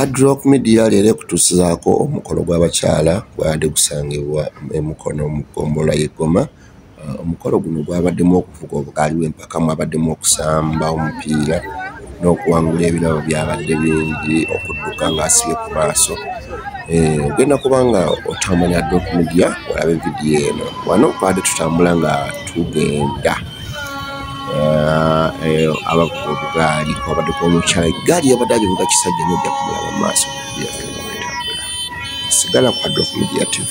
Hard Rock Media leero ekutuusizaako omukolo gw'abakyala gwabadde gusangibwa e Mukono mu ggombolola y'e Goma. Uh, omukolo guno gwabaddemu okuvuga obugaali bw'empaka mwabaddemu okusamba omupiira n'okuwangula ebirabo byabadde bingi okudduka ng'asibye ku maaso. Eh, ogenda kuba nga otambula Hard Rock Media olabe vidiyo eno. Wano twabadde tutambula nga tugenda. eh, eh, abavuga obugaali kwabaddeko omukyala egaali yabadde agivuga kisajja nojja kumulaba maaso sigala kwadde okumugira tv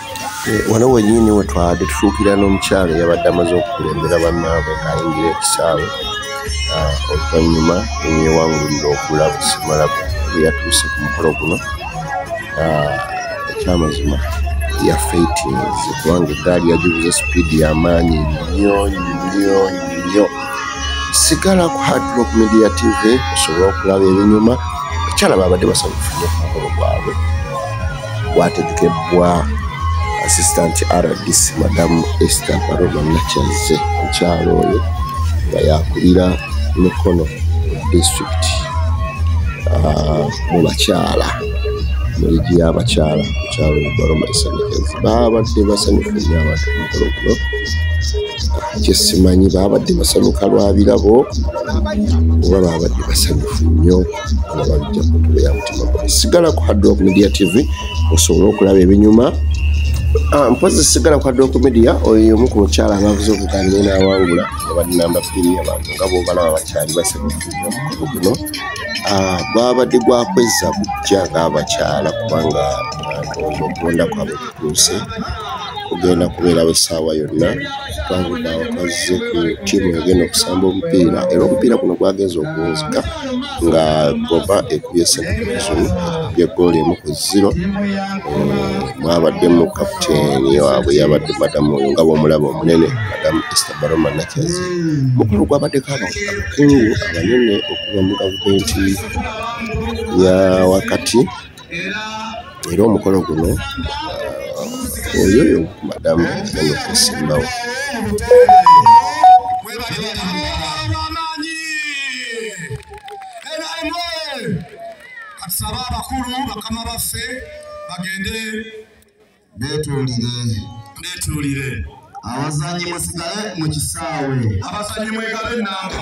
Eh, wano wenyini wetwade tufuukira n'omukyalo yabadde amaze okukulembera bannaabwe ng'ayingira ekisaawe ah, oluvannyuma neyewangulira okula busimala bweyatuuse ku mukolo guno ah, ekyamazima ya faitins kubanga eggaali yagibuza sipiidi y'amaanyi nnyo nnyo nnyo sigala ku hardlock media tv osobola okulaba ebinyuma ekyala baabadde basanyufunye ku mukolo gwabwe gwategekebbwa assistant rdc madamu ester baroma nakyazze mukyalo oyo nga yakulira mikono district ah, mu bakyala mu ligi y'abakyala mukyalo baroma esanyikazi babadde basanyufu nyo abantu mukolo guno kyesimanyi babadde basanyuka lwa birabo oba babadde basanyufu nnyo sigala ku hadrock media tv osobole okulaba ebinyuma ah, mpozi sigala ku hadrock media oyo omu ku mukyala abavuze okugamba enawangula abanamba bbiri abantu nga bobalaba bakyali basebafuuamukugu guno ah, gwabadde gwakwezza bujja ngaabakyala kubanga ah, okugondakwabe kutuuse kugenda kubeerawo essaawa yonna kubanga abakazze ku ttiimu egenda okusamba omupiira era omupiira guno gwagenza okuwunzika nga goba ekubye senakazum ekubye gooli emu ku ziro eh, mwabaddemu kaputeeni waabwe yabadde madamu oyo nga bwomulaba omunene madamu ester baroma nakyazi mukulu gwabaddeko abakungu abanene okuva mu gavumenti ya wakati era omukolo guno uh, oyoyo madamu namukusimbawo atusaba abakulu bakama baffe bagende betuulire betuulire abazanyi musigale mu kisaawe abazanyi mwegale enamba